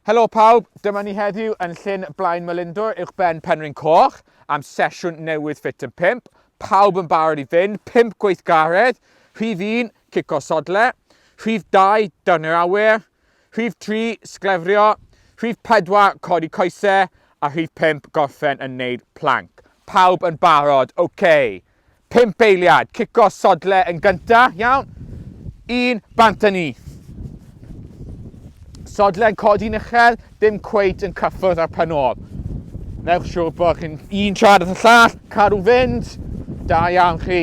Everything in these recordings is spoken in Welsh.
Helo pawb, dyma ni heddiw yn Llyn Blaen Melindwr uwch ben Penrhyn Coch am sesiwn newydd Fit yn 5. Pawb yn barod i fynd, 5 gweithgaredd, rhif 1, cico sodle, rhif 2, dynnu'r awyr, Rhif 3, sglefrio. Rhif 4, codi coesau. A rhif 5, gorffen yn neud plank. Pawb yn barod, oce. Okay. Pimp eiliad, cico sodle yn gynta, iawn. Un, bant a ni. Sodle yn codi uchel, dim cweit yn cyffwrdd ar pan ôl. Newch siwr bod chi'n un trad at y llall, cadw fynd. Da iawn chi.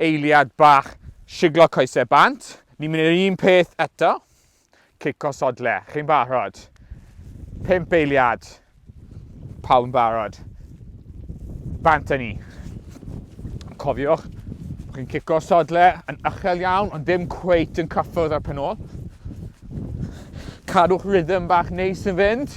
Eiliad bach, siglo coesau bant. Ni'n mynd i'r un peth eto. Cico sodle. Chi'n barod? Pimp eiliad. Pawb yn barod. Bant â ni. Cofiwch, chi'n cico sodle yn ychel iawn, ond ddim cweit yn cyffwrdd ar pen ôl. Cadwch rhythm bach neis yn fynd.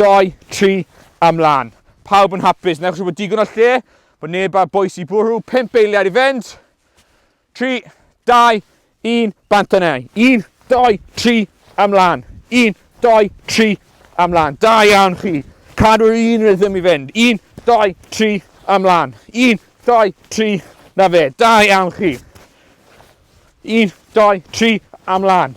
Dau, tri, a mlan. Pawb yn hapus, newch siŵr bod digon o lle, bod neb a bwys i bwrw, pump eiliad i fynd. Tri, dau, un, bant yna. Un, dau, tri, a mlan. Un, dau, tri, a mlan. Da iawn chi. Cadw'r un rhythm i fynd. Un, dau, tri, a mlan. Un, dau, tri, na fe. Da iawn chi. Un, dau, tri, a mlan.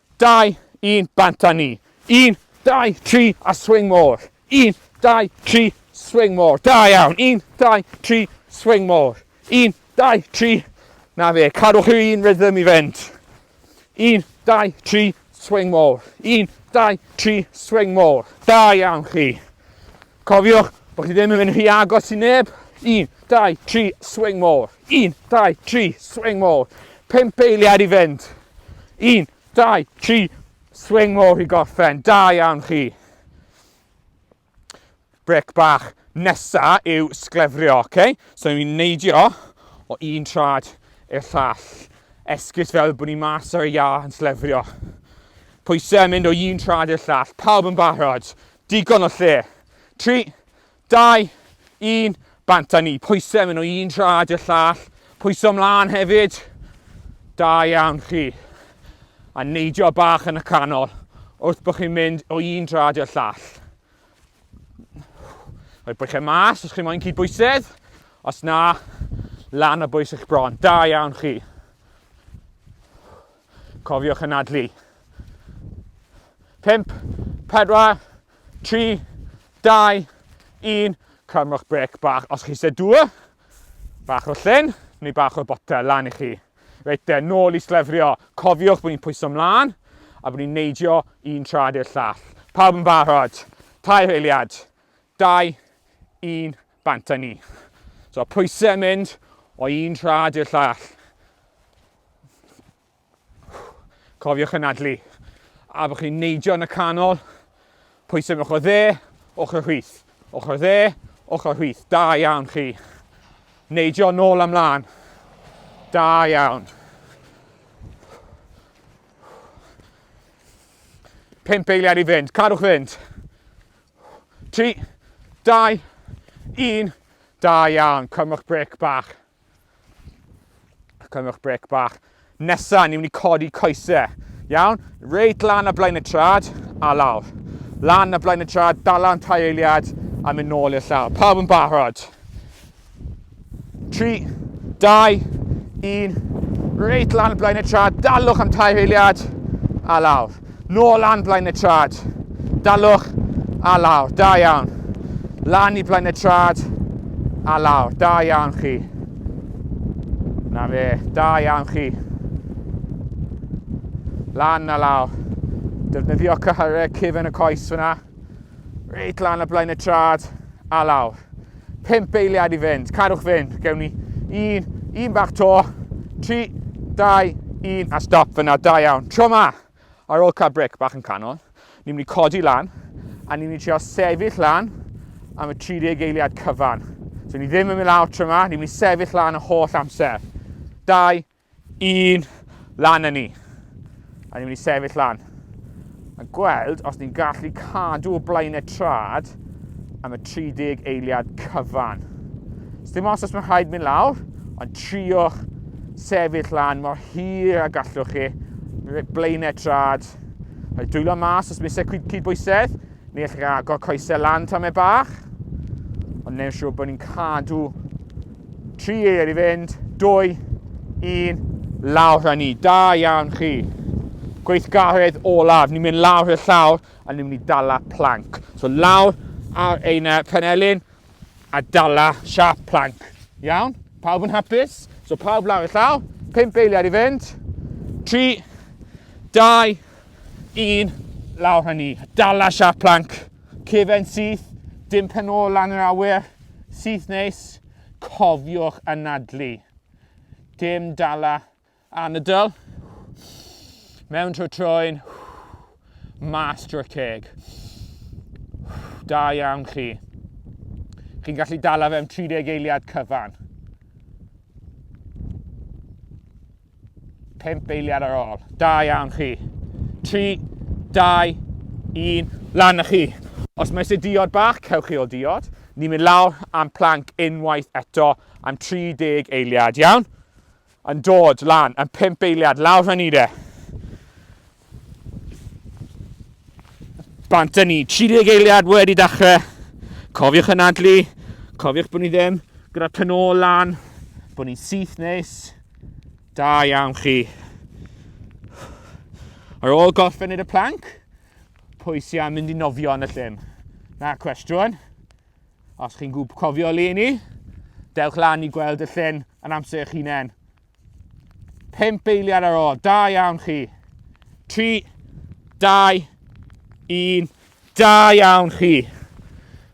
Dau, un, bant a ni. Un, dau, tri, a swing more. Un, dau, tri, swing more. Da iawn. Un, dau, tri, swing more. Un, dau, tri. Na fe, cadwch yr un rhythm i fynd. Un, dau, tri, swing more. Un, dau, tri, swing more. Da iawn chi. Cofiwch bod chi ddim yn mynd rhy agos i neb. 1, 2, 3, swing more. 1, 2, 3, swing more. 5 eiliad i fynd. 1, 2, 3, swing more i gorffen. Da iawn chi. Brec bach nesa yw sglefrio, oce? Okay? So ni'n neidio o un trad i'r llall. Esgus fel bod ni mas ar y iâ yn slefrio. Pwysau yn mynd o un trad i'r llall. Pawb yn barod. Digon o lle. 3, 2, 1, bant a ni. Pwysau mynd o un trad i'r llall. Pwysau ymlaen hefyd. Da iawn chi. A neidio bach yn y canol wrth bod chi'n mynd o un drad i'r llall. Rhoi bwychau mas os chi moyn cyd bwysedd. Os na, lan o bwys eich bron. Da iawn chi. Cofiwch anadlu. 5, 4, 3, 2, 1. Cymrwch brec bach os chi eisiau dŵr. Bach o llyn neu bach o botel lan i chi. Reit de, nôl i slefrio. Cofiwch bod ni'n pwyso mlaen a bod ni'n neidio un trad i'r llall. Pawb yn barod. Tair eiliad. 2, 1, bant â ni. So pwysau yn mynd o un trad i'r llall. Cofiwch yn adlu. A bod chi'n neidio yn y canol, pwysau mewn ochr dde, ochr hwyth. Ochr dde, ochr hwyth. Da iawn chi. Neidio nôl amlan. Da iawn. 5 eiliad i fynd, cadwch fynd. 3, 2, 1, da iawn, cymwch brec bach. Cymwch brec bach. Nesa, ni'n mynd i codi coesau. Iawn, reit lan a blaen y trad, a lawr. Lan a blaen y trad, dala'n tai eiliad, a mynd nôl i'r llawr. Pawb yn barod. 3, 2, 1, reit lan blaen y trad, dalwch am tair eiliad, a lawr. Nôl lan blaen y trad, dalwch, a lawr, da iawn. Lan i blaen y trad, a lawr, da iawn chi. Na fe, da iawn chi. Lan a lawr. Defnyddio cyhyrau cyfen y coes fyna. Reit lan y blaen y trad, a lawr. 5 eiliad i fynd. Cadwch fynd. Gewn ni un, un bach to. 3, 2, 1 a stop fyna. Da iawn. Tro ma, ar ôl cael bric bach yn canol, ni'n mynd i codi lan a ni'n mynd i trio sefyll lan am y 30 eiliad cyfan. So ni ddim yn mynd lawr tro ma, ni'n mynd i sefyll lan y holl amser. 2, un lan yn ni. A ni'n mynd i sefyll lan. A gweld os ni'n gallu cadw o blaen y trad am y 30 eiliad cyfan. Os dim os os mae'n rhaid mynd lawr, ond trio'ch sefyll lan mor hir a gallwch chi. Blaenau trad. Rhaid dwylo mas os mae'n secwyd cyd bwysedd. Ni allwch chi agor coesau lan tam e bach, ond neu'n siŵr bod ni'n cadw tri eir i fynd, dwy, un, lawr a ni. Da iawn chi. Gweithgaredd olaf, ni'n mynd lawr i'r llawr a ni'n mynd i dala planc. So lawr ar ein uh, penelin a dala siap planc. Iawn? Pawb yn hapus? So pawb lawr y llaw, pimp eiliad i fynd. Tri, dau, Un, lawr hynny. Dala siap planc. Cefen syth, dim pen ôl lan yr awyr. Syth neis. Cofiwch anadlu. Dim dala anadl. Mewn trwy troen. Mas drwy'r ceg. Da iawn chi. Chi'n gallu dala fe am 30 eiliad cyfan. Pump eiliad ar ôl. Da iawn chi. 3, 2, 1, lan â chi. Os mae eisiau diod bach, cewch chi o diod. Ni'n mynd lawr am planc unwaith eto am 30 eiliad, iawn? Yn dod lan, yn 5 eiliad, lawr hynny de. Bant â ni, 30 eiliad wedi dechrau. Cofiwch yn adlu, cofiwch bod ni ddim gyda pen ôl lan, bod ni'n syth nes. Da iawn chi. Ar ôl gorffen i'r planc, pwy sy'n am mynd i nofio yn y llym? Na cwestiwn. Os chi'n gwb cofio le ni, dewch lan i gweld y llyn yn amser eich hunain. 5 eiliad ar ôl. Da iawn chi. 3, 2, 1. Da iawn chi.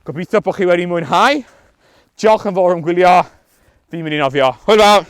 Gobeithio bod chi wedi mwynhau. Diolch yn fawr am gwylio. Fi'n mynd i nofio. Hwyl fawr!